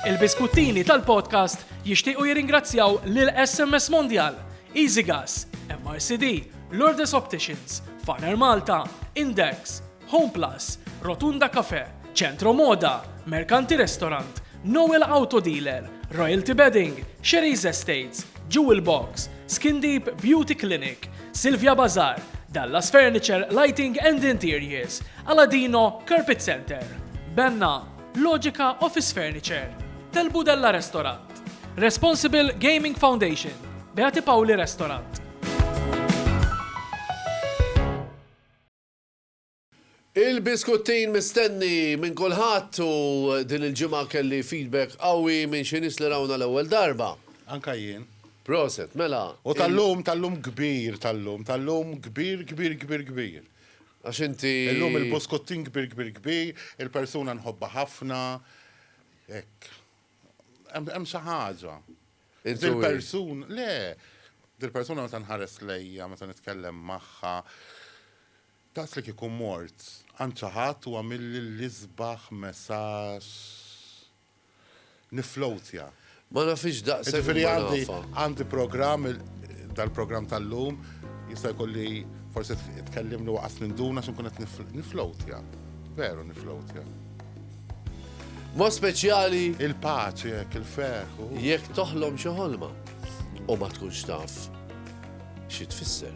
Il-biskuttini tal-podcast jixtiequ jirringrazzjaw lil SMS Mondial, Easy Gas, MRCD, Lourdes Opticians, Faner Malta, Index, Home Plus, Rotunda Cafe, Centro Moda, Mercanti Restaurant, Noel Auto Dealer, Royalty Bedding, Sherry's Estates, Jewel Box, Skin Deep Beauty Clinic, Silvia Bazar, Dallas Furniture Lighting and Interiors, Aladino Carpet Center, Benna, Logica Office Furniture, Tel Budella Restaurant, Responsible Gaming Foundation, Beati Pauli Restaurant. Il-biskuttin mistenni minn kulħadd u din il-ġimgħa kelli feedback qawwi minn xi nies li rawna l-ewwel darba. Anka jien. Proset, mela. U tal-lum, tal-lum kbir, tal-lum, tal-lum kbir, kbir, kbir, kbir. Għax inti. Illum il-buskuttin kbir kbir kbir, il-persuna nħobbha ħafna, hekk. Hemm xi ħaġa. Dil-persun, le, dil-persuna meta nħares lejja, meta nitkellem magħha, daqs li kieku mort għand xi ħadd u għamilli l-isbaħ messaġġ. niflowtja. Ma nafhiex daqshekk Jiġifieri imma għandi nafha. għandi programm, dal-programm tal-lum jista' jkun li forsi tkellimni waqas minn dun għax inkun qed nif- niflowtja. Veru niflowtja. Mod speċjali Il-paċi hekk, il-ferħ u. jekk toħlom xi ħolma u ma tkunx taf xi tfisser.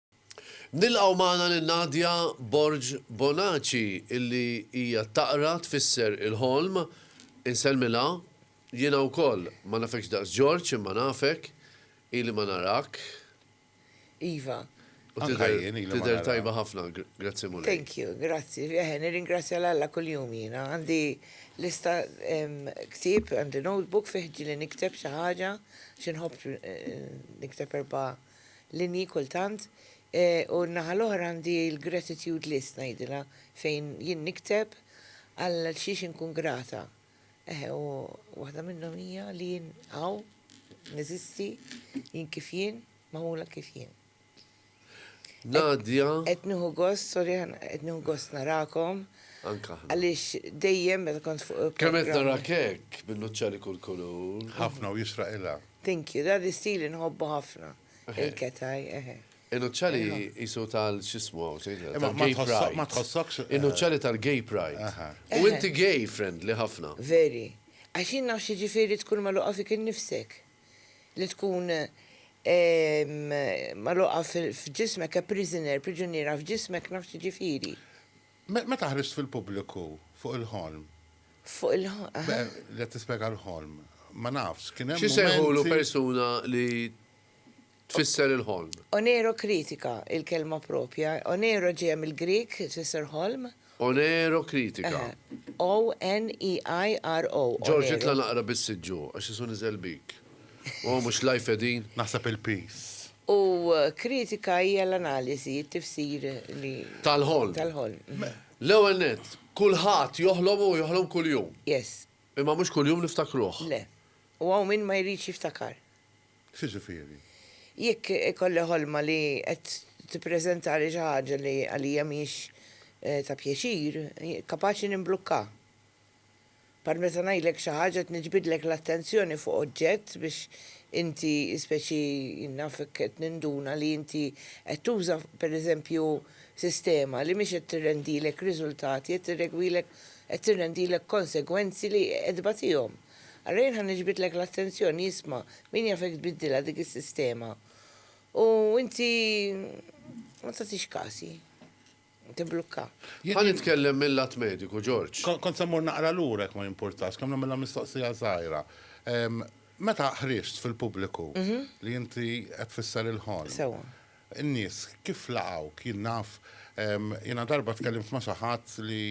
Nilqgħu magħna lil Nadia Borg Bonaci illi hija taqra tfisser il-ħolm. Insellmilha. Jiena wkoll. Ma nafekx daqs George imma nafek. Ili ma narak. Iva. U tidher tajba ħafna. Grazzi Mulej. Thank you. Grazzi. Eħe, nirringrazzja lil Alla kuljum jiena. Għandi lista ktieb, għandi notebook fih ġieli nikteb xi ħaġa xi nħobb nikteb erba' linji kultant u n-naħa l-oħra għandi l-gratitude list ngħidilha fejn jien nikteb għal xiex inkun grata. Eħe u waħda minnhom hija li jien hawn neżisti jien kif jien magħmula kif jien. Nadja. Qed nieħu gost, sorry, qed nieħu gost narakom. Anka. Għaliex dejjem meta kont fuq. Kemm qed narak hekk bil-nuċċali kull kulur. Ħafna u jisraq ilha. Thank you, dan l-istil inħobbu ħafna. Il-ketaj, eħe. In-nuċċali qisu tal x'ismu hawn se jidher. Imma ma tal-gay tħossok- pride. ma tħossokx- In-nuċċali tal-gay pride. Aha. U inti gay friendly ħafna. Very. Għax jien naf x'jiġifieri tkun magħluqa fik innifsek. Li tkun ehm, magħluqa fil-, f'ġismek, a prisoner, priġuniera f'ġismek naf x'jiġifieri. Meta ħriġt fil-pubbliku fuq il-ħolm. Fuq il-ħolm? Be, li qed tispjega l-ħolm. Ma nafx, kien hemm. X'isejħulu persuna li tfisser il-ħolm? Oneirokritika, il-kelma proprja. Oneiro ġejja mill-Grieg, tfisser ħolm. Oneirokritika. O-N-E-I-R-O. George, itla' naqra bis-siġġu, għax isu niżel bik. O, mhux life qegħdin? Naħseb il-piż. U kritika hija l-analiżi, it-tifsir li. Tal-ħolm. Tal-ħolm. L-ewwel nett, kulħadd joħlom u joħlom kuljum. Yes. Imma mhux kuljum niftakruh. Le. U hawn min ma jridx jiftakar. X'jiġifieri? Jekk ikolli ħolma li qed tippreżentali xi ħaġa li għalija mhijiex ta' pjaċir, kapaċi nimblukka. Bħal meta ngħidlek xi ħaġa qed niġbidlek l-attenzjoni fuq oġġett biex inti speċi nafek qed ninduna li inti qed tuża pereżempju sistema li mhix qed tirrendilek riżultati qed tirregwilek qed tirrendilek konsegwenzi li qed tbatihom. Allura jien ħa niġbidlek l-attenzjoni isma' min jafek tbiddilha dik is-sistema u inti ma tagħtix kasi. Tibblukka. Jien nitkellem mil-lat mediku, George. Kont se mmur naqra lura jekk ma jimpurtax, kemm nagħmilha mistoqsija żgħira. Meta ħriġt fil-pubbliku li inti qed tfisser il-ħolm. Sewwa. In-nies kif laqgħuk? Jien naf, jiena darba tkellimt ma' xi ħadd li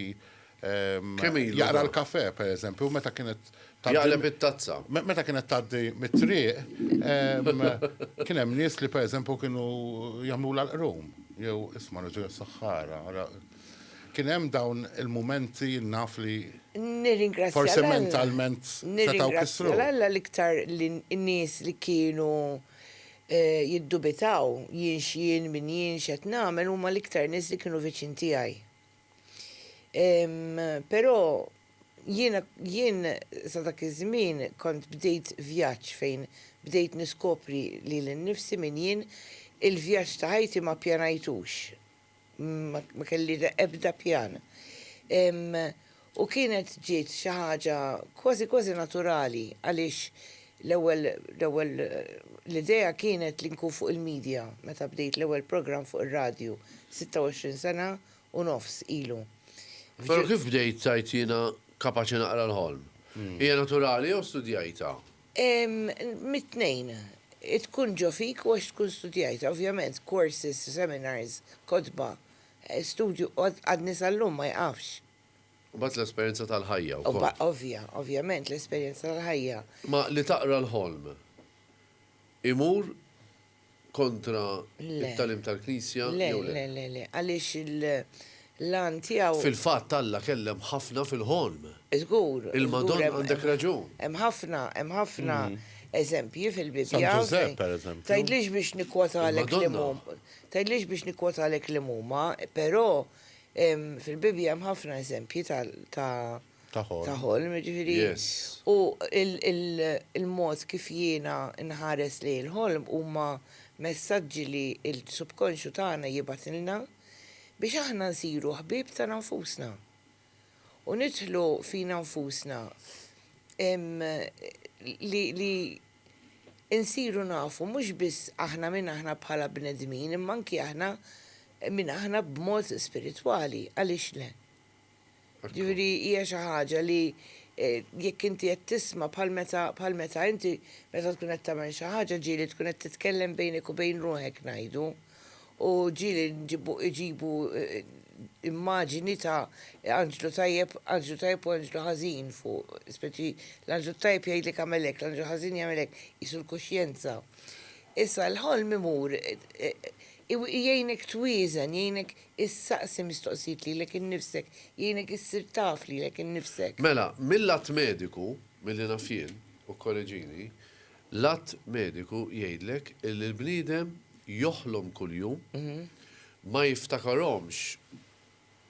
Kemm ilu? Jaqra l-kafè, pereżempju, meta kienet tgħaddi. Jaqleb it-tazza. Meta kienet tgħaddi mit-triq, kien hemm nies li pereżempju kienu jagħmlu l-qrum, jew isma' raġel is-saħħara, kien hemm dawn il-mumenti naf li. Nirringrazzja. Forsi mentalment setgħu kissru. Alla l-iktar li n-nies li kienu jiddubitaw jienx jien, min jienx qed nagħmel huma l-iktar nies li kienu viċin tiegħi. Però jiena jien sa dak iż-żmien kont bdejt vjaġġ fejn bdejt niskopri lili nnifsi min jien. Il-vjaġġ ta' ħajti ma pjanajtux. Ma kelli ebda pjan. U kienet ġiet xi ħaġa kważi kważi naturali għaliex l-ewwel l-ewwel l-idea kienet li nkun fuq il-media meta bdejt l-ewwel programm fuq ir-radju, 26 sena, u nofs ilu. Però kif bdejt tgħid jiena kapaċi naqra l-ħolm? Hija naturali jew studjajtha? Mit-tnejn. Tkun ġo fik u għax tkun studjajtha. Ovvjament, courses, seminars, kotba, studju għadni sal-lum ma jqafx. U mbagħad l-esperjenza tal-ħajja wkoll. Ovvja, ovvjament, l-esperjenza tal-ħajja. Ma li taqra l-ħolm imur kontra t-tagħlim tal-Knisja jew le? Le, le, le, le, għaliex il-għan tiegħu. Fil-fatt Alla kellem ħafna fil-ħolm. Żgur. Il-Madonna għandek raġun. Hemm ħafna, hemm ħafna eżempji fil-Bibbja. San Ġużepp, pereżempju. Tgħidlix biex nikkwotalek li mhuma. Tgħidlix biex nikkwotalek li mhuma, però fil-Bibbja hemm ħafna eżempji ta' ta' ħolm, jiġifieri u l-mod kif jiena nħares lejn il-ħolm huma messaġġi li l-subkonxju tagħna jibgħatilna biex aħna nsiru ħbieb tagħna nfusna u nidħlu fina nfusna li nsiru nafu mhux biss aħna min aħna bħala bnedmin imma anki aħna min aħna b'mod spiritwali, għaliex le? Jiġifieri hija xi ħaġa li jekk inti qed tisma' bħal meta bħal meta inti meta tkun qed tagħmel xi ħaġa ġieli tkun qed titkellem bejnek u bejn ruħek ngħidu u ġieli nġibu iġibu immaġini ta' anġlu tajjeb anġlu tajjeb u anġlu ħażin fuq speċi l-anġlu t-tajjeb jgħidlek agħmel hekk l-anġlu l-ħażin jagħmel hekk qisu l-kuxjenza. Issa l-ħolm imur jgħinek twieżen jgħinek Issaqsi mistoqsijiet lilek innifsek, jgħinek issir taf lilek innifsek. Mela, mill-lat mediku, milli naf jien, u kkoreġini, l-att mediku jgħidlek illi l-bniedem joħlom kuljum, ma jiftakarhomx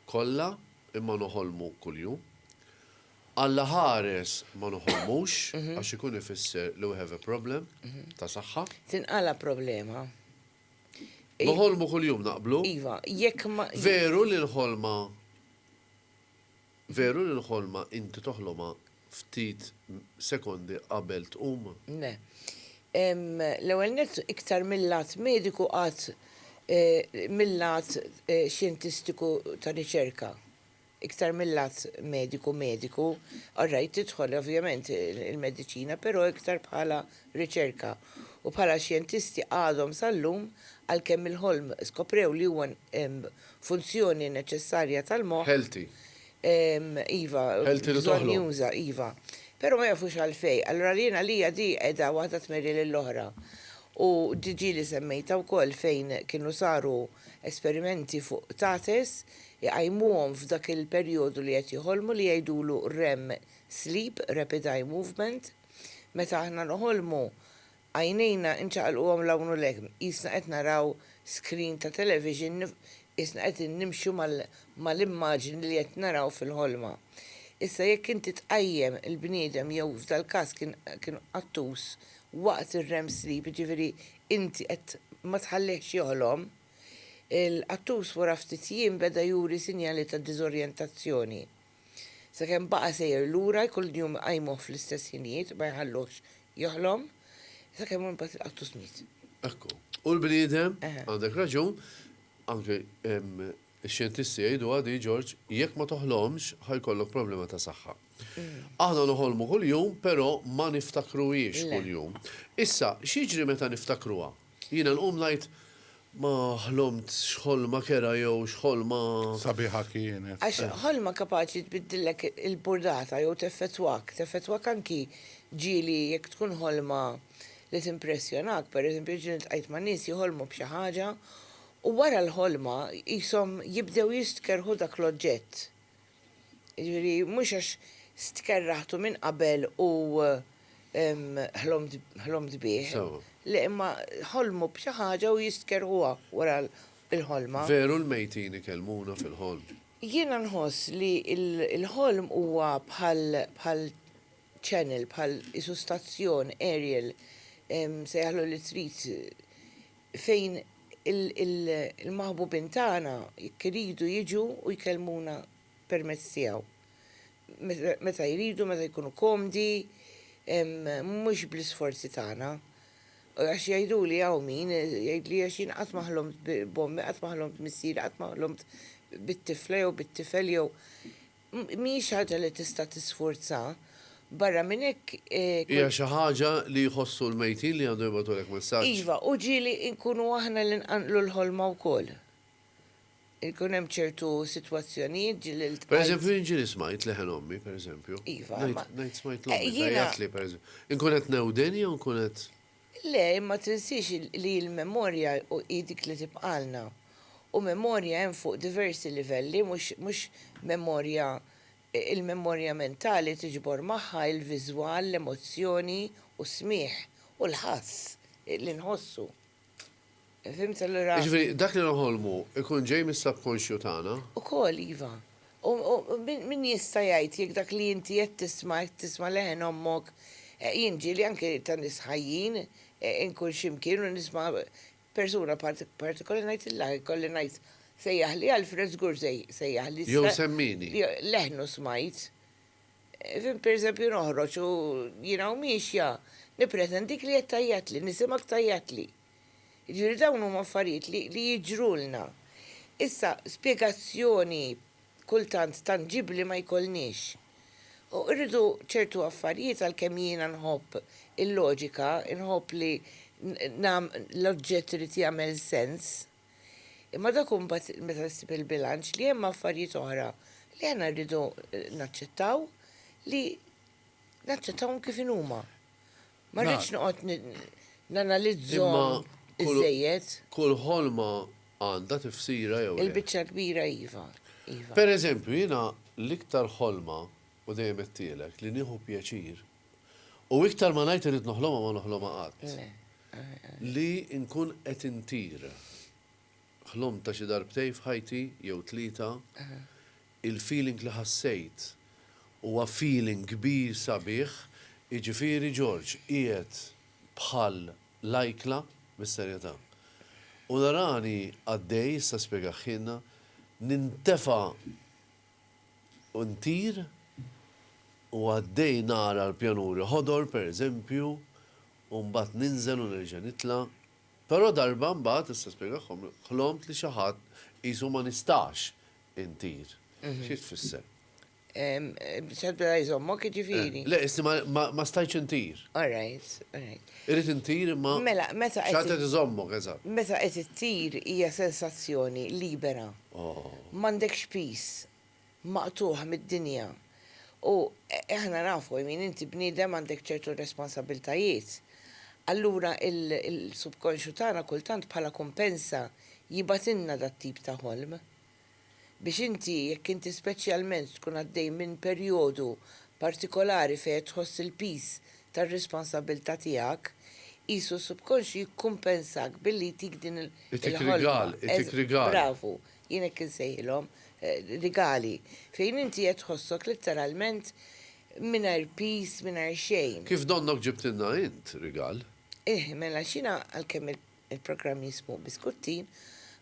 kollha imma noħolmu kuljum. Alla ħares ma noħolmux għax ikun ifisser li we have a problem ta' saħħa. Tinqala' problema. Noħolmu kuljum, naqblu? Iva, jekk ma. Veru li l-ħolma Veru li l-ħolma inti toħlomha ftit sekondi qabel tqum? Le. L-ewwel nett iktar mil-lat mediku qatt mil-lat xjentistiku ta' riċerka. iktar mil-lat mediku mediku, all right tidħol ovvjament il-mediċina però iktar bħala riċerka u bħala xjentisti għadhom sal-lum għalkemm il-ħolm skoprew li huwa funzjoni neċessarja tal-moħħ. Healthy. Iva. Healthy li toħlom. Bżonnjuża, iva. Però ma jafux għalfejn. Allura jien għalija di qiegħda waħda tmeri lill-oħra. U di ġieli semmejtha wkoll fejn kienu saru esperimenti fuq tates iqajmuhom f'dak il-perjodu li qed joħolmu li jgħidulu rem sleep, rapid eye movement, meta aħna noħolmu għajnejna nċaqalquhom 'l hawn u 'l hemm qisna qed naraw screen ta' television qisna qed nimxu mal-immaġni li qed naraw fil-ħolma. Issa jekk inti tqajjem il-bniedem jew f'dal-każ kien kien qattus waqt ir-rem sleep jiġifieri inti qed ma tħallihx joħlom, Il-qattus wara ftit jiem beda juri sinjali ta' diżorjentazzjoni, sakemm baqa' sejjer lura jkollu din jum iqajmuh fl-istess ħinijiet ma jħalluhx joħlom, sakemm imbagħad il-qattus miet. Ekku. U l-bniedem, għandek raġun, anke x-xjentisti jgħiduha din George, jekk ma toħlomx ħa jkollok problema ta' saħħa. Aħna noħolmu kuljum però ma niftakruhiex kuljum. Issa, x'jiġri meta niftakruha? Jiena nqum ngħid, Ma ħlomt x'ħolma kerha jew x'ħolma. Sabiħa kienet. Għax ħolma kapaċi tbiddillek il-burdata jew teffettwak, teffettwak anki ġieli jekk tkun ħolma li timpressjonak. Per eżempju, ġieli ltqajt ma' nies jħolmu b'xi ħaġa u wara l-ħolma qishom jibdew jistkerrħu dak l-oġġett. Jiġifieri mhux għax stkerraħtu minn qabel u ħlomt bih. Le, imma ħolmu b'xi ħaġa u jistkerrħuha wara l-ħolma. Veru l-mejtin ikellmuna fil-ħolm. Jiena nħoss li l-ħolm huwa bħal channel, bħal qisu stazzjon aerial, sejjaħlu li trid, fejn il-maħbubin tagħna jekk iridu jiġu u jkellmuna permezz tiegħu. Meta jridu, meta jkunu komdi, mhux bl-isforzi tagħna. Għax jgħiduli hawn min, jgħidli għax jien qatt ma ħlomt b'ommi, qatt ma ħlomt b'missieri, qatt ma ħlomt bit-tifla jew bit-tifel jew. mhijiex ħaġa li tista' tisfurza. Barra minn hekk, kull. Hija xi ħaġa li jħossu l-mejtin li għandhom jibgħatulek messaġġ. Iva, u ġieli nkunu aħna li nqanqlu l-ħolma wkoll. Ikun hemm ċertu sitwazzjonijiet ġieli ltqajt. Pereżempju, jien ġieli smajt leħen ommi, pereżempju. Iva, imma. Ngħid smajt l-ommi tgħajjatli, pereżempju. Inkun qed newden jew inkun qed. Le, imma tinsiex li l-memorja hi dik li tibqagħlna. U memorja hemm fuq diversi livelli, mhux memorja, il-memorja mentali tiġbor magħha il-viżwal, l-emozzjoni u s-smigħ u l-ħass li nħossu. Fhimt allura? Jiġifieri dak li noħolmu jkun ġej mis-subconsciu tagħna? Ukoll, iva. U min jista' jgħid jekk dak li inti qed tisma' qed tisma' leħen ommok, jien ġieli anke ta' nies ħajjin inkun xi mkien u nisma' persuna partikolari ngħidilha jkolli ngħid sejjaħli Alfred żgur se jsejjaħli. Jew semmini. Leħnu smajt. Fim, pereżempju, noħroġ u jiena u miexja nippretendik li qed tgħajjatli, nisimgħek tgħajjatli. Jiġifieri dawn huma affarijiet li li jiġrulna. Issa, spjegazzjoni kultant tanġibbli ma jkollniex. U rridu ċertu affarijiet għalkemm jiena nħobb il-loġika, inħobb li l-oġġett irid jagħmel sens. Imma dak hu mbagħad meta ssib il-bilanċ li hemm affarijiet oħra li aħna rridu naċċettaw li naċċettawhom kif inhuma. Ma rridx noqgħod nanalizzhom iżejjed. Kull ħolma għandha tifsira jew. Il-biċċa kbira iva. Iva. Per eżempju, jiena l-iktar ħolma, u dejjem għedtielek, li nieħu pjaċir. U iktar ma ngħid irrid noħlomha ma noħlomha qatt. Li nkun qed intir. Ħlomtha xi darbtejn f'ħajti jew tlieta. Il-feeling li ħassejt huwa feeling kbir sabiħ, jiġifieri George qiegħed bħal lajkla, bis-serjetà. U narani għaddej, issa spjegah Hinna, nintefa' u ntir u għaddej nara l-pjanuri ħodor pereżempju u mbagħad ninżel u nerġa' nitla'. Però darba mbagħad, issa spjegahom, ħlomt li xi ħadd qisu ma nistax intir. Xi tfisser? X'għadda la jżommok jiġifieri? Le, qisti ma stajtx intir. All right, all right. Irrid intir imma xi ħadd qed iżommok, eżatt. Mela, meta qed ittir hija sensazzjoni libera. M'għandekx piż, maqtugħ mid-dinja. U aħna nafu, I mean, inti bniedem għandek ċertu responsabiltajiet. Allura l-subkonsxju tagħna kultant bħala kumpensa jibgħatilna dat-tip ta' ħolm. Biex inti, jekk inti speċjalment tkun għaddej minn perjodu partikolari fejn qed tħoss il-piż tar-responsabbiltà tiegħek, qisu s-subkonxju jikkumpensak billi jtik din il-, Itik il-ħolma. rigal, itik rigal. Bravu, jien hekk insejħilhom, rigali, fejn inti qed tħossok letteralment mingħajr piż, mingħajr xejn. Kif donnok ġibtilna int rigal? Eħ, mela għax jiena għalkemm Il-programm jismu Biskuttin.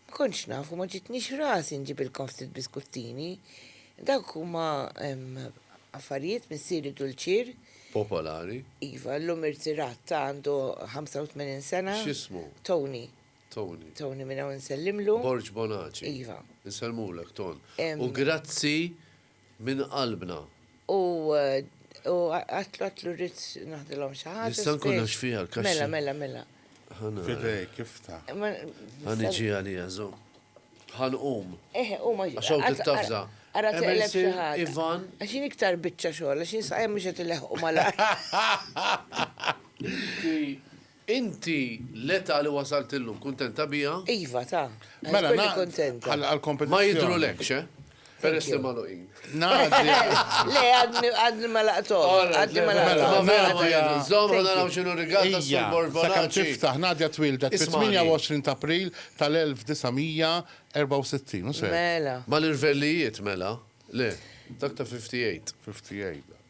Ma kontx naf u ma ġitnix rasi nġibilkom ftit biskuttini. Dawk huma affarijiet missieri Dulċir. Popolari. Iva, llum irtirat, ta' għandu 85 sena. X'ismu? Tony. Tony. Tony minn hawn insellimlu. Borg Bonaci. Iva. Insellmulek Ton. U grazzi minn qalbna. U għatlu rrid naħdilhom xi ħaġa. Nista' nkun għax fiha l-kaxxa. Mela, mela, mela. F'idejk, iftah. Ħa niġi għaliha, żomm. Ħa nqum. Eħe, qum għax. Għax hawn tittafża. Ara teqleb xi ħadd. Ivan. Għax jien iktar biċċa xogħol, għax jien saqajja mhux qed ileħħqu malajr. Inti l-età li wasalt illum kuntenta biha? Iva, ta. Mela na. Għall-kompetizzjoni. Ma jidhrulekx, eh? Peress li magħluqin. Ngħaddi. Le, għadni ma laqthomx. Għadni ma laqthomx. Mela, mela, nżomm u naraw x'inhu r-rigal ta' Sur Borbonazzi. Sakemm tiftaħ, Nadja twieldet fit-28 ta' April tal-1964, mhux hekk? Mela. Mal-irvellijiet, mela? Le, dak ta' 58. 58.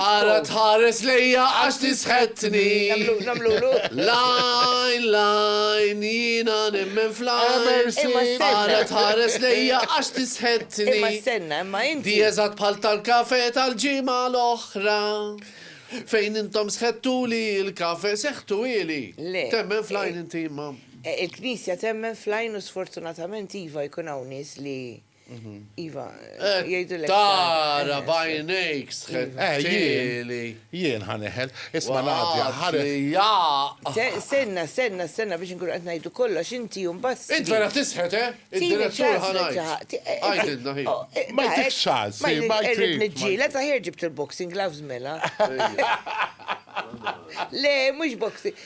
Ara tħares lejja għax tisħetni. Lajn, lajn, jiena nemmen flajn. Ara tħares lejja għax tisħetni. Imma senna, imma inti. Di eżat bħal tal-kafe tal-ġimgħa l-oħra. Fejn intom sħettu li l-kafe seħtu ili. Le. Temmen flajn inti imma. Eh, il-Knisja temmen flajn u sfortunatament iva jkun hawn nies li Iva, jgħidilek. Tara bajnejk sħet. Ġieli. Jien ħaneħel. Isma' Nadja, ħareħ. Senna, senna, senna biex nkunu qed ngħidu kollox inti u mbagħad. Int vera tisħet, eh? Id-direttur ħanajt. Għajdilna hi. Ma jtik xal, si, ma jtik. Irrid niġġieled, aħjar ġibt il-boxing gloves mela. Le, mhux boxing.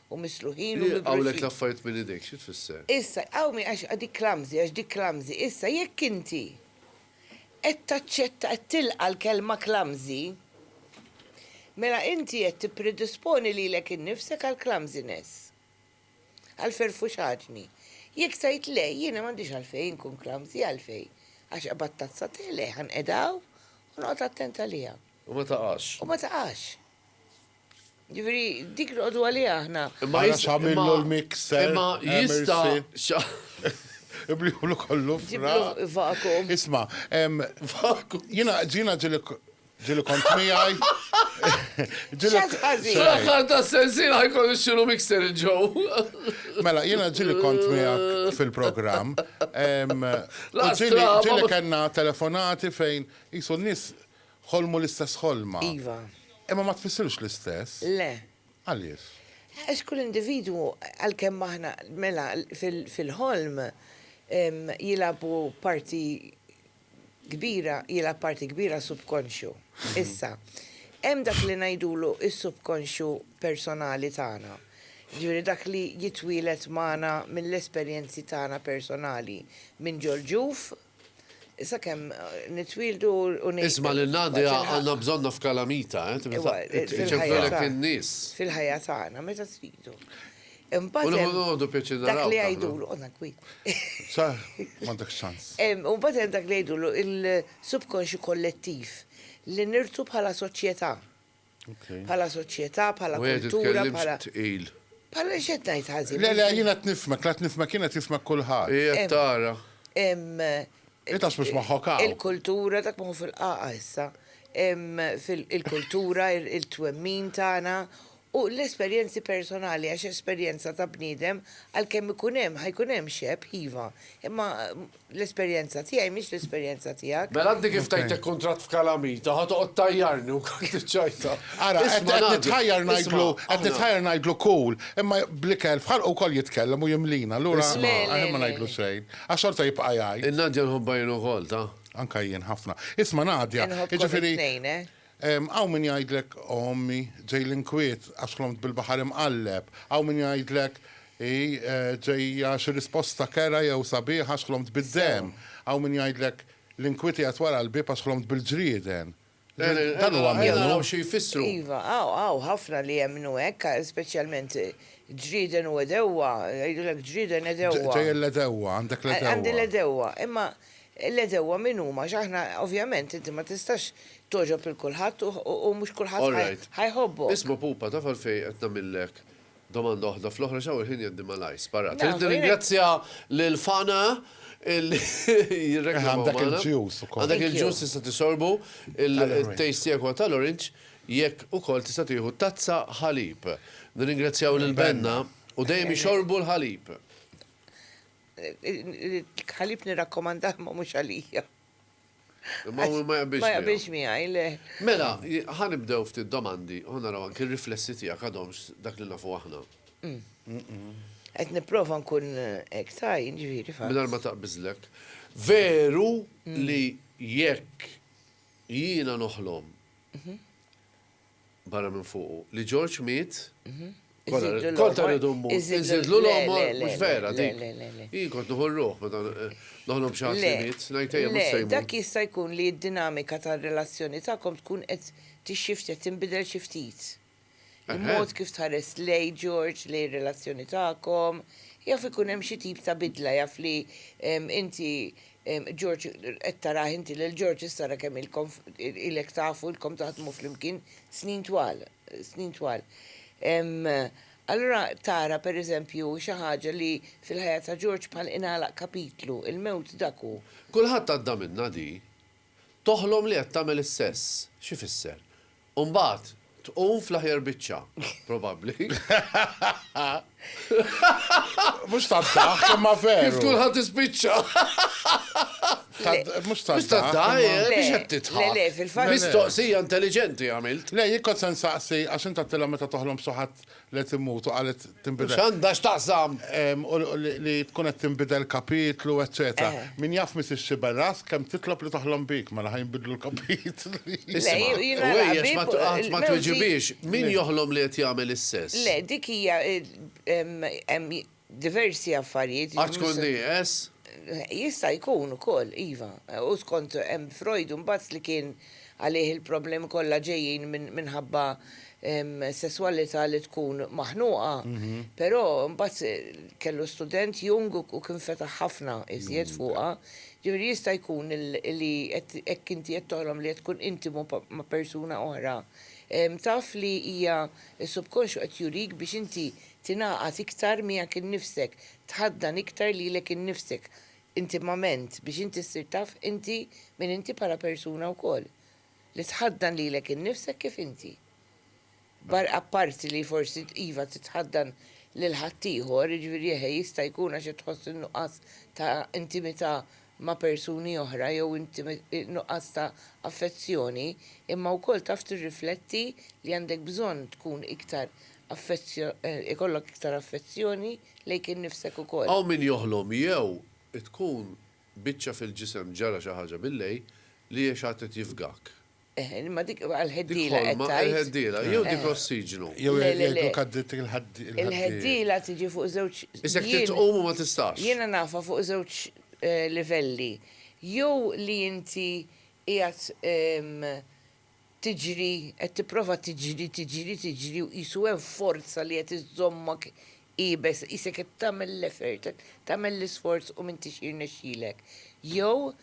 u misluħin u mibruxin. Li jqawwlek l-affarijiet minn idejk, xi tfisser? Issa, iqawmi għax dik clumsy, għax dik clumsy. Issa, jekk inti qed taċċetta, qed tilqa' l-kelma clumsy, mela inti qed tippredisponi lilek innifsek għall-clumsiness, għall-ferfuxaġni. Jekk tgħid le, jiena m'għandix għalfejn inkun clumsy, għalfejn? Għax qabad tazza te? Le, ħa nqegħdha hawn u noqgħod attent għaliha. U ma taqax. U ma taqax. Ġifieri dik noqogħdu għaliha aħna. Imma jista' x'għamillu l-mixer. Imma jista' Ibliħlu kollu fra. Vakum. Isma, vakum. Jina ġina ġili ġili kont miħaj. Ġili ħazi. Xaħħar ta' sensina ħajkollu xilu mixer il-ġow. Mela, jina ġili kont miħak fil-program. Ġili kanna telefonati fejn jisu nis Ħolmu l-istess ħolma. Iva. Imma ma tfissirx l-istess. Le. Għaliex? Għax kull individwu, għalkemm aħna, mela, fil-ħolm jilagħbu parti kbira, jilgħab parti kbira s-subkonxju. Issa, hemm dak li ngħidulu s-subkonxju personali tagħna. Jiġifieri dak li jitwieled magħna mill-esperjenzi tagħna personali minn ġol-ġuf sakemm nitwildu u ngħidu. Isma' lil Nadia għandna bżonna f'kalamita, ċemprilek in-nies. Fil-ħajja tagħna meta tridu. Imbagħad. U noqogħdu pjaċir naraw. Dak li jgħidulu qodna kwi. Sa, m'għandek ċans. U mbagħad hemm dak li jgħidulu il-subkonxju kollettiv li nirtu bħala soċjetà. Bħala soċjetà, bħala kultura, bħala. Bħala x'qed ngħid ħażin. Le, le, jien qed nifhmek, la qed nifhmek jien qed jifhmek kulħadd. Hi qed tara. Hi ta' spiss moħħok hawn. Il-kultura dak moħħu fil-qaqa issa. Il-kultura, il-twemmin tagħna u l-esperjenzi personali għax esperjenza ta' bniedem għalkemm ikun hemm ħajkun hemm xebh, iva, imma L-esperjenza tiegħi mhix l-esperjenza tiegħek. Mela inti kif tgħidlek kuntratt f'kalamita, ħa toqgħod tgħajjarni u wkoll tiċċajta. Ara, qed nitħajjar ngħidlu, qed nitħajjar ngħidlu cool, imma bl-ikel f'ħalqu wkoll jitkellem u jimlina, allura aħjar ma ngħidlu xejn, għax xorta jibqa' jgħid. Il-Nadja nħobbha jien ukoll, ta'. Anke jien ħafna. Isma' Nadja, jiġifieri. Inħobbkom it-tnejn, eh? Hawn min jgħidlek, O ommi, ġej l-inkwiet, għax ħlomt bil-baħar imqalleb. Hawn min jgħidlek, Hi, ġejja xi risposta kerha jew sabiħa għax ħlomt bid-demm. Hawn min jgħidlek, L-inkwiet qiegħed wara l-bieb għax ħlomt bil-ġrieden. Dan huwa minnu. Ejja naraw xi jfissru. Iva, hawn ħafna li jemmnu hekk, speċjalment ġrieden u għedewwa, jgħidulek ġrieden għedewwa. Ġejja l-għedewwa, għandek l-għedewwa. Għandi l-għedewwa. Imma L-għedewwa min huma għax aħna ovvjament inti ma tistax togħġob lil kulħadd u mhux kulħadd ħa jħobbok. Isma' pupa taf għalfejn qed nagħmillek domanda waħda fl-oħra x'hawn il-ħin jgħaddi malajr. Sparat. Irrid nirringrazzja lil Fana li jirreklamaw magħna. Għandek il-ġus ukoll. Għandek il-ġus tista' tisorbu, it-taste tiegħek huwa tal-orange, jekk ukoll tista' tieħu tazza ħalib. Nirringrazzjaw lil Benna u dejjem ixorbu l-ħalib. Ħalib nirrakkomandah ma mhux għalija. Ma hu ma jaqbilx. Ma jaqbilx miegħi, le. Mela, ħanibdew ftit domandi u naraw anki r-riflessi tiegħek għadhomx dak li nafu aħna. Qed nipprova nkun hekk saj, ġifieri fatt. Mingħajr ma taqbiżlek. Veru li jekk jiena noħlom barra minn fuqu, li Ġorġ miet, kollha kollha rridu mmut. Iżidlu l-għomor, mhux vera dik. Jien kont nieħu r-ruħ meta noħlob xi ħadd li miet, ngħid ejja mhux se jmut. Le, dak jista' jkun li d-dinamika tar-relazzjoni tagħkom tkun qed tixxift, qed tinbidel xi ftit. Il-mod kif tħares lejn Ġorġ, lejn ir-relazzjoni tagħkom, jaf ikun hemm xi tip ta' bidla, jaf li inti George, Qed tarah inti lil George issa ara kemm ilkom ilek tafu, ilkom taħdmu flimkien snin twal, snin twal. Allura tara pereżempju xi ħaġa li fil-ħajja ta' George bħal ingħalaq kapitlu, il-mewt dak hu. Kulħadd għadda minnha di. Toħlom li qed tagħmel is-sess. X'ifisser? U mbagħad tqum fl-aħjar biċċa, probabbli. Mhux tad-daħk, imma veru. Kif tkun ħa tispiċċa. Mhux tad-daħk. Mhux tad-daħk, biex qed tidħak. Le, fil-fatt. Mistoqsija intelliġenti għamilt. Le, jien kont se nsaqsi għax int għattilha meta toħlom b'suħat li qed immut u qalet tinbidel. X'għandha x'taqsam? Li tkun qed tinbidel kapitlu, eċċetera. Min jaf Mrs. Sciberras kemm titlob li toħlom bik mela ħa jinbidlu l-kapitli. Isimha', u għejjex ma tweġibhiex, min joħlom li qed jagħmel is-sess? Le, dik hija diversi affarijiet. Għax tkun nieqes? Jista' jkun ukoll, iva. U skont hemm Freud imbagħad li kien għalih il-problemi kollha ġejjin minħabba sesswalità li tkun maħnuqa. Però imbagħad kellu student Jung u kien fetaħ ħafna iżjed fuqha. Ġifieri jista' jkun li hekk inti qed toħlom li qed tkun intimu ma' persuna oħra, taf li hija s-subkonxju qed jurik biex inti tingħaqad iktar miegħek innifsek, tħaddan iktar lilek innifsek intimament biex inti ssir taf inti min inti bħala persuna wkoll. Li tħaddan lilek innifsek kif inti. Barra apparti li forsi iva titħaddan lil ħaddieħor, jiġifieri eħe jista' jkun għax qed tħoss in-nuqqas ta' intimità ma' persuni oħra jew nuqqas ta' affezzjoni, imma wkoll taf tirrifletti li għandek bżonn tkun iktar ikollok iktar affezzjoni lejk innifsek ukoll. Hawn min joħlom jew tkun biċċa fil-ġisem ġara xi ħaġa billejl li għex għad qed jifgak. Eħ, imma dik għall-ħeddiela qed tgħid. Dik ħolma għall-ħeddiela jew dik l-ossiġnu. Jew jgħidlok għaddiet il-ħaddiela. Il-ħeddiela tiġi fuq żewġ. Isek trid tqum u ma tistax. Jiena nafha fuq żewġ livelli. Jew li inti qiegħed tiġri, qed tipprova tiġri, tiġri, tiġri u qisu hemm forza li qed iżżommok iebes, qisek qed tagħmel l-effort, tagħmel l-isforz u m'intix jirnexxilek. Jew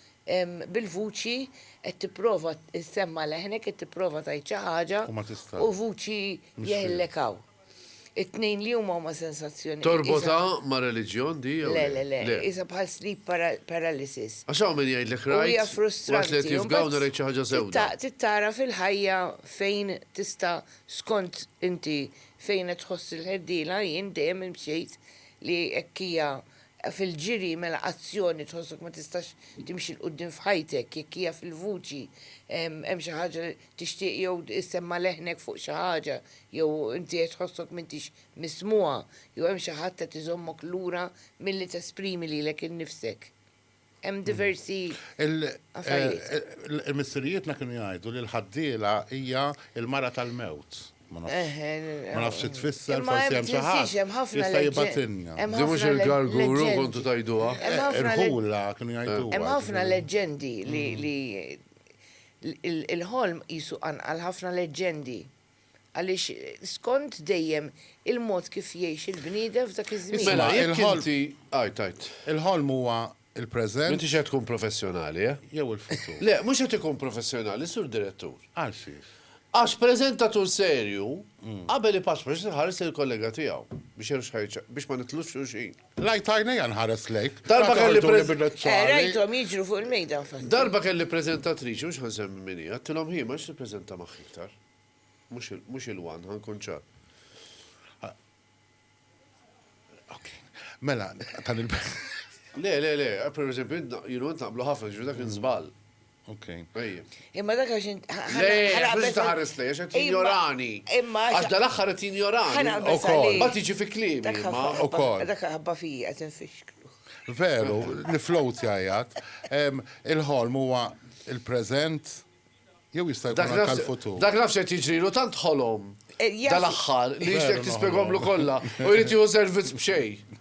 bil-vuċi qed tipprova ssemma' leħnek, qed tipprova tgħid xi ħaġa u vuċi jeħillek hawn. It-tnejn li huma huma sensazzjonijiet. Torbotha ma' reliġjon di jew le? Le, le, le. Qisha bħal sleep paralysis. Għax hawn min jgħidlek rajt. U hija frustranti. Waqt li qed jifgaw narajt xi ħaġa sewda. Trid tara fil-ħajja fejn tista' skont inti fejn qed tħoss il-ħerdiela, jien dejjem imxejt li hekk hija fil-ġiri mela azzjoni tħossok ma tistax timxi 'l quddiem f'ħajtek, jekk hija fil-vuċi hemm xi ħaġa li. Tixtieq jew issemma' leħnek fuq xi ħaġa jew inti qed tħossok m'intix mismugħa jew hemm xi ħadd qed iżommok lura milli tesprimi lilek innifsek. Hemm diversi affarijiet. Il-missirijietna kienu jgħidu li l-ħaddiela hija l-mara tal-mewt. Ma nafx xi tfisser, forsi hemm xi ħadd li jista' jibgħatilna. Din mhux il-garguru kontu tgħiduha? Irħula kienu jgħiduha. Hemm ħafna leġġendi li Il-ħolm qisu qanqal ħafna leġġendi għaliex skont dejjem il-mod kif jgħix il-bniedem f'dak iż-żmien. Mela jekk inti, għid, għid. Il-ħolm huwa l-preżent. M'intix qed tkun professjonali, eh? Jew il-futur. Le, mhux qed ikun professjonali, Sur Direttur. Għal xiex? Għax preżentatur serju, qabel ipaċpaċ irid iħares lejn il-kollega tiegħu biex jgħidu x'ħa biex ma nitlux xulxin. Rajt għajnejja nħares lejk. Darba kelli preżentatriċi. Rajthom jiġru fuq il-mejda infatti. Darba kelli preżentatriċi, mhux ħa nsemmi min hi, għedtilhom hi ma rridx nippreżenta magħha iktar. Mhux il-one, ħa nkun ċar. Ok. Mela, tal-il. Le, le, le, per eżempju, jien u int naqblu ħafna, ġifieri dak kien żball. Imma dak għax int. Għax taħares li, għax qed jinjorani. Imma. Għax dal-axħar qed jinjorani. Ukoll. Ma tiġi fi klimi. Ukoll. Dak ħabba fija qed infixklu. Veru, li float jajat. Il-ħolm huwa il-preżent jew jista' jkun tal-futur. Dak nafx qed jiġrilu tant ħolom. Eh, dal-axħar li jixtek tispegomlu kollha u jrid jieħu servizz b'xejn.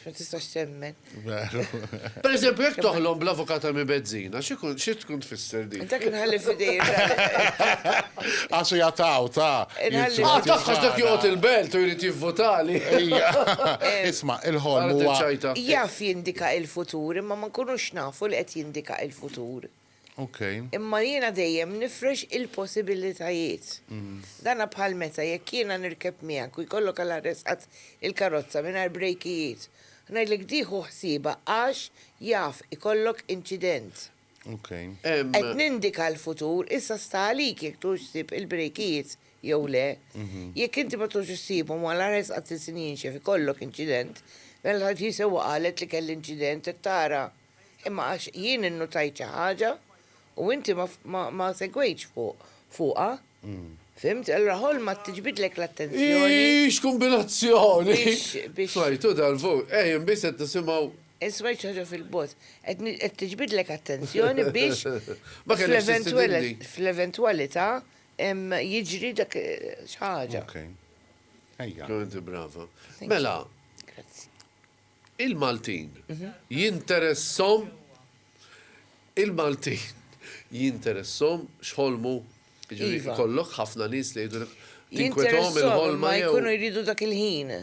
Ma tistax temmen. Per eżempju, jek toħlom bl-avukata mi bezzina, xie tkun tfisser di? Dak nħalli fidej. Għaxu jataw, ta. Għal tafħax dak jgħot il-belt u jrid jivvotali. Isma, il-ħolm huwa. Jaf jindika il-futur, imma ma nkunux nafu li qed jindika il-futur. Okay. Imma jiena dejjem nifrex il-possibilitajiet. Mm. Dana bħal meta jekk jiena nirkeb miegħek u jkollok għal arresqat il-karozza mingħajr brejkijiet, ngħidlek dieħu ħsieba għax jaf ikollok inċident. Okay. Qed nindika l-futur, issa sta għalik jekk tux sib il-brejkijiet jew le. Mhm. Jekk inti ma tux issibhom għal arresqat il-sinjinxef ikollok inċident, mela ħadd jisewwa qalet li kelli inċident qed tara. Imma għax jien innutajt xi ħaġa u inti ma segwejtx fuqha, fhimt, allura ħolma tiġbidlek l-attenzjoni. Hi x'kumbinazzjoni! Smajtu dan fuq, ejjem biss qed nisimgħu. Smajt xi ħaġa fil-bogħod, qed tiġbidlek attenzjoni biex fl-eventwalità jiġri dak xi ħaġa. Ejja. Kemm inti brava. Mela. Grazzi. Il-Maltin jinteressahom il-Maltin jinteressahom x'ħolmu, jiġifieri jkollok ħafna nies li jgħidulek tinkwetahom il-ħolma jew. Jkunu jridu dak il-ħin.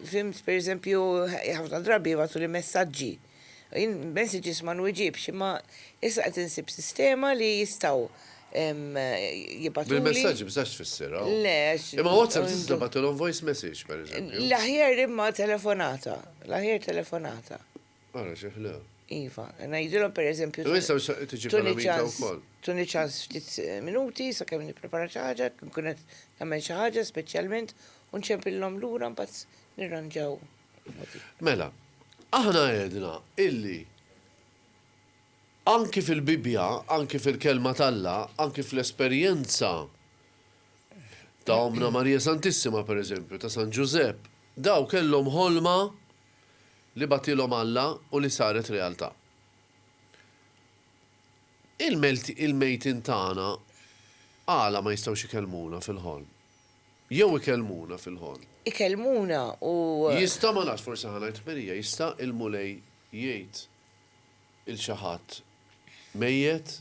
Fhimt, pereżempju, ħafna drabi jibgħatuli messaġġi. Jien messages ma nwiġibx, imma issa qed insib sistema li jistgħu jibatuli. Bil-messaġġ bżax tfisser hawn. Le, Imma WhatsApp tista' tibgħatilhom voice message pereżempju. L-aħjar imma telefonata, l-aħjar telefonata. Ara xi ħlew. Iva, ngħidilhom pereżempju. Issa tiġi kalamita wkoll. Tuni ċans ftit minuti sakemm nipprepara xi ħaġa, nkun qed nagħmel xi ħaġa speċjalment u nċempillhom lura mbagħad nirranġaw. Mela, aħna għedna illi Anki fil-Bibbja, anki fil-Kelma t'Alla, anki fl-esperjenza ta' Ommna Marija Santissima, per eżempju, ta' San Ġużepp, dawn kellhom ħolma li bagħtilhom Alla u li saret realtà. Il-mejtin tagħna għala ma jistgħux ikellmuna fil-ħolm? Jew ikellmuna fil-ħolm? Ikellmuna u. Jista', ma nafx, forsi ħa ngħid ħmerija, jista' il-Mulej jgħid. 'il xi ħadd mejjet,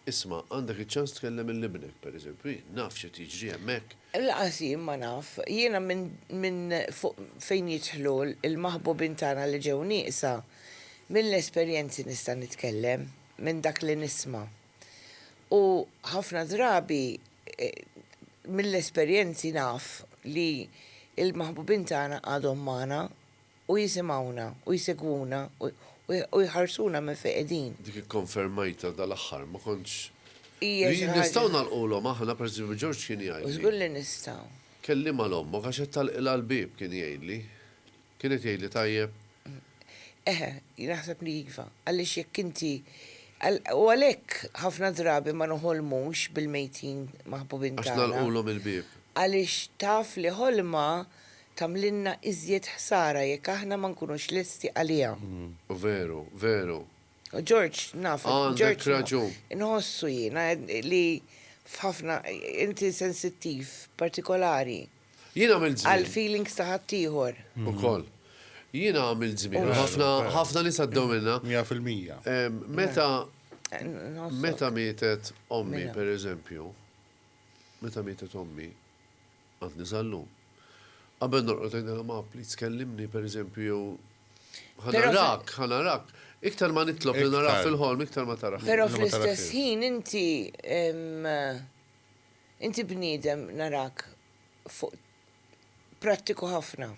Isma', għandek iċ-ċans tkellem 'il ibnek, pereżempju. Jien naf x'qed jiġri hemmhekk. Lanqas jien ma naf. Jiena minn fuq fejn jidħlu l-maħbubin tagħna li ġew nieqsa, mill-esperjenzi nista' nitkellem, minn dak li nisma'. U ħafna drabi mill-esperjenzi naf li l-maħbubin tagħna għadhom magħna. u jisimgħuna, u jsegwuna, u jħarsuna minn fejn qegħdin. Dik ikkonfermajtha dal-aħħar, ma kontx. Hija xi ħaġa. Nistgħu nagħlqulhom aħna, pereżempju George kien jgħidli. Żgur li nistgħu. Kellimha 'l ommok għax qed tagħlqilha l-bieb, kien jgħidli. Kien qed jgħidli tajjeb? Eħe, naħseb li iva. Għaliex jekk inti, u għalhekk ħafna drabi ma noħolmux bil-mejtin maħbubin tagħna. Għax nagħlqulhom il-bieb. Għaliex taf li ħolma tagħmlilna iżjed ħsara jekk aħna ma nkunux lesti għaliha. Veru, veru. George, nafek. Għandek raġun. Inħossu jiena li f'ħafna, inti sensittiv, partikolari. Jien għamilt żmien. Għall-feelings ta' ħaddieħor. Ukoll. Jiena għamilt żmien. Ħafna, ħafna nies għaddew minnha. Mija fil-mija. Meta, meta mietet ommi, pereżempju, meta mietet ommi, Għadni sal-lum. Qabel norqod ngħidilha ma pliz kellimni pereżempju jew ħa narak, ħa narak. Iktar ma nitlob li narak fil-ħolm, iktar ma tarax. Però fl-istess ħin inti inti bniedem narak fuq prattiku ħafna.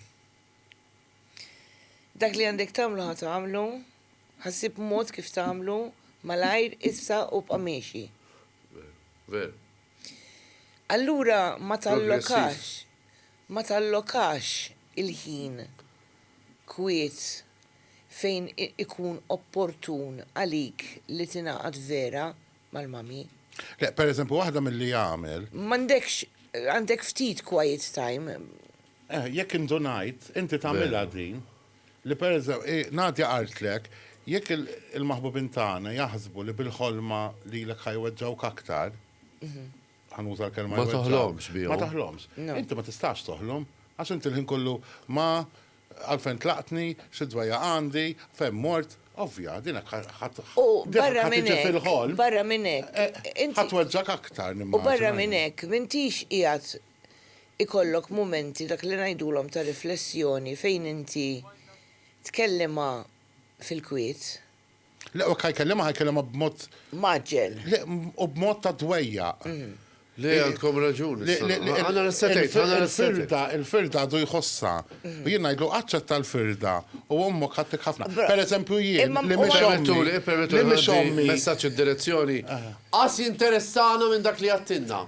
Dak li għandek tagħmlu ħa tagħmlu, ħa ssib mod kif tagħmlu malajr issa u bqa' miexi. Veru. Allura ma tallokax, ma tallokax il-ħin kwiet fejn ikun opportun għalik li tingħaqad vera mal-mummy. Le, per eżempju, waħda milli jagħmel. M'għandekx, għandek ftit quiet time. Eh, jekk indunajt, inti tagħmilha din. Li pereżem, i, Nadia qaltlek, jekk il, il-maħbubin tagħna jaħsbu li bil-ħolma lilek ħa jweġġgħuk aktar, ħa nuża l-kelma Ma jweġġgħuk, toħlomx bihom. ma toħlomx. No. Inti ma tistax toħlom, għax inti l-ħin kollu ma, għalfejn tlaqtni, xi dwejjaq għandi, fejn mort, ovvja, din hekk ħa, ħa, U din barra ħa minn tiġi hekk, fil-ħolm, barra minn hekk, eh, ħa inti, tweġġgħek aktar, u barra nimmaġina minn jien. hekk, m'intix qiegħed ikollok mumenti dak li ngħidulhom ta' riflessjoni fejn inti tkellimha fil-kwiet. Le, u jekk ħa jkellimha, ħa jkellimha b'mod. Mgħaġġel. Le, u b'mod ta' dwejjaq. Le, għandkom raġun issa. Le, le, għandna l-aesthetic, għandna l-aesthetic. Il-firda, il-firda għadu jħossha. U jien ngħidlu, aċċetta l-firda u ommok ħadtek ħafna. Pereżempju jien, li mhix ommi. Ippermettuli, ippermettuli, ħa ngħaddi messaġġ id-direzzjoni. Qas jinteressana minn dak li jagħtilna.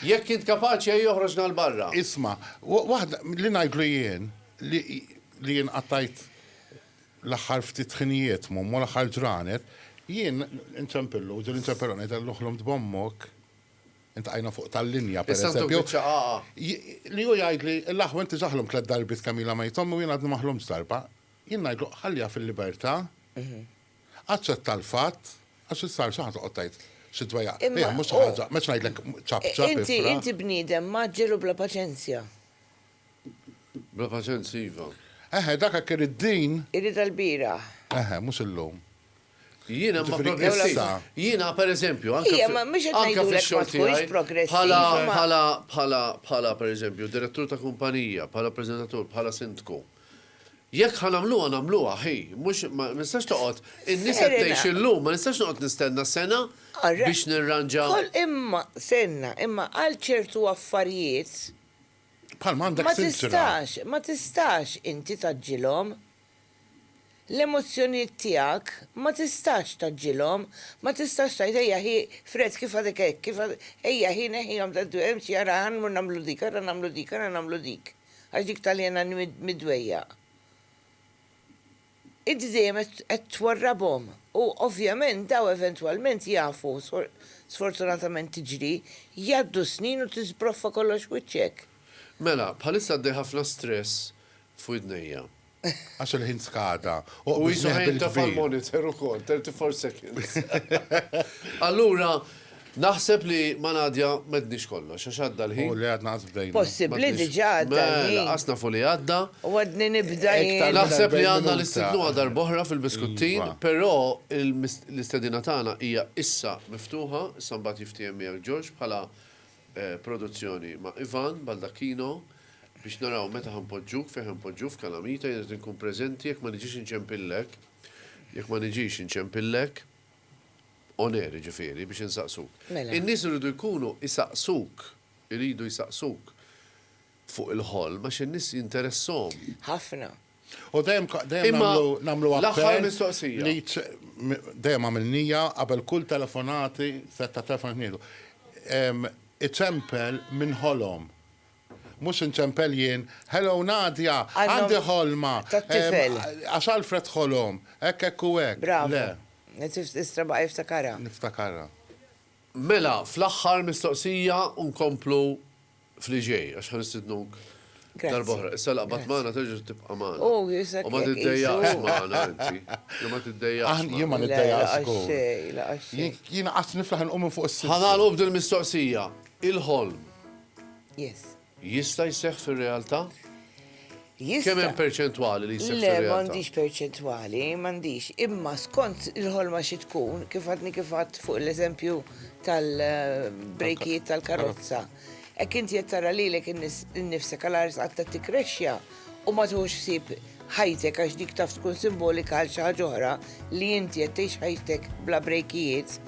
Jekk int kapaċi ejja oħroġna 'l barra. Isma', waħda, li ngħidlu jien, li, li jien qattajt l-aħħar ftit ħinijiet m'ommu, l-aħħar ġranet, jien inċempillu, ġieli nċempillu ngħidillu ħlomt b'ommok, iltqajna fuq tal-linja, per eżempju, li hu jgħidli, l-aħwa inti diġà ħlomt tliet darbiet kemm ilha mejta ommi u jien għadni ma ħlomtx darba. Jien ngħidlu, ħalliha fil-libertà, Aċċetta l-fatt, għax issa għal xiex toqgħod tgħid xi dwejjaq. Imma mhux xi ħaġa, m'għedx ngħidlek ċapp ċapp ifraħ. Inti inti bniedem mgħaġġel u bla paċenzja. Bla paċenzja iva. Eħe, dak hekk irid din. Iridha l-bieraħ. Eħe, mhux illum. Jiena ma progressiva. Jiena pereżempju anke. Ija, ma mhux qed ngħidulek ma tkunx progressiva. Bħala bħala bħala bħala pereżempju direttur ta' kumpanija, bħala preżentatur, bħala sindku. Jekk ħa nagħmluha nagħmluha ħi, mhux ma nistax toqgħod, in-nies qed tgħix illum, ma nistax noqgħod nistenna sena biex nirranġa. Imma stenna, imma għal ċertu affarijiet ma tistax, ma tistax inti tgħaġġilhom. L-emozzjonijiet tiegħek ma tistax tgħaġġilhom, ma tistax tgħid ejja ħi fred kif għadek hekk, kif ejja ħi neħħihom, ara ħa nmur nagħmlu dik, ara nagħmlu dik, ara nagħmlu dik. għax dik Taljana mid-dwejjaq, inti dejjem qed twarrabhom u ovvjament dawn eventwalment jafu, sfortunatament tiġri, jgħaddu s-snin u tiżbroffa kollox f'wiċċek. Mela, bħalissa għaddej ħafna stress f'widnejja. Għax il-ħin skada. U qisu ħa jintefa' l-monitor ukoll, 34 seconds. Allura, naħseb li ma' Nadia m'għedniex kollox, għax għadda l-ħin. U le għadna lanqas bdejna. Possibbli diġà għadda l-ħin. Mela, lanqas nafu li għadda. U għadni nibda jien. Naħseb li għandna nistidnuha darb'oħra fil-biskuttin, però l-istedina tagħna hija issa miftuħa, issa mbagħad jiftiehem miegħek George bħala Produzzjoni ma' Ivan Baldacchino biex naraw meta ħa npoġġuk, fejn ħa npoġġuk f'Kalamita, jien qed inkun preżenti jekk ma niġix inċempillek, jekk ma niġix inċempillek, on air jiġifieri, biex insaqsuk. In-nies iridu jkunu isaqsuk, iridu jsaqsuk fuq il-ħolm għax in-nies jinteressahom. Ħafna. U dejjem nagħmlu l-aħħar mistoqsija. Dejjem għamilnija qabel kull telefonati, set ta' telefon ngħidu. Iċempel minn ħolom. Mhux inċempel jien, hello Nadia, għandi ħolma. Għax Alfred ħolom, hekk hekk u hekk. Bravo. Istra baqa' jiftakarha. Niftakarha. Mela, fl-aħħar mistoqsija u nkomplu. f'li ġej għax ħa nistidnuk darba oħra. Issa laqbad magħna terġa' tibqa' magħna. Oh, u ma tiddejjaqx magħna inti. Jew ma tiddejjaqx. Jien ma niddejjaqx. Jien qatt niflaħ inqum minn fuq is-sirk. Ħa nagħlqu b'din mistoqsija. Il-ħolm jista' jseħħ fir-realtà? Jista'. Kemm hemm perċentwali li jseħħ fir-realtà? Le, m'għandix perċentwali, m'għandix. Imma skont il-ħolma xi tkun, kif għadni kif għedt fuq l-eżempju tal-brejkijiet tal-karozza, hekk inti qed tara lilek innifsek għal għar sqatt qed tikkrexxa u ma tieħux ħsieb ħajtek għax dik taf tkun simbolika għal xi ħaġa oħra li inti qed tgħix ħajtek bla brejkijiet,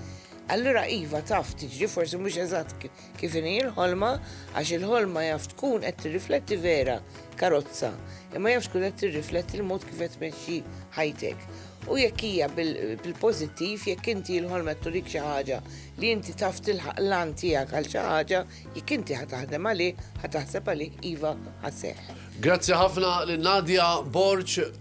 allura iva taf tiġri forsi mhux eżatt Kif inhi l-ħolma, għax il-ħolma jaf tkun qed tirrifletti vera karozza, imma jaf tkun qed tirrifletti l-mod kif qed tmexxi ħajtek. U jekk hija bil-pożittiv, jekk inti l-ħolma turik xi ħaġa li inti taf tilħaq l-għan tiegħek għal xi ħaġa, jekk inti ħa taħdem għalih, ħa taħseb għalih iva ħa seħħ. Grazzi ħafna lil Nadia Borg.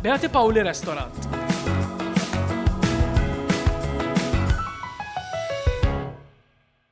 Beati Paoli Restaurant.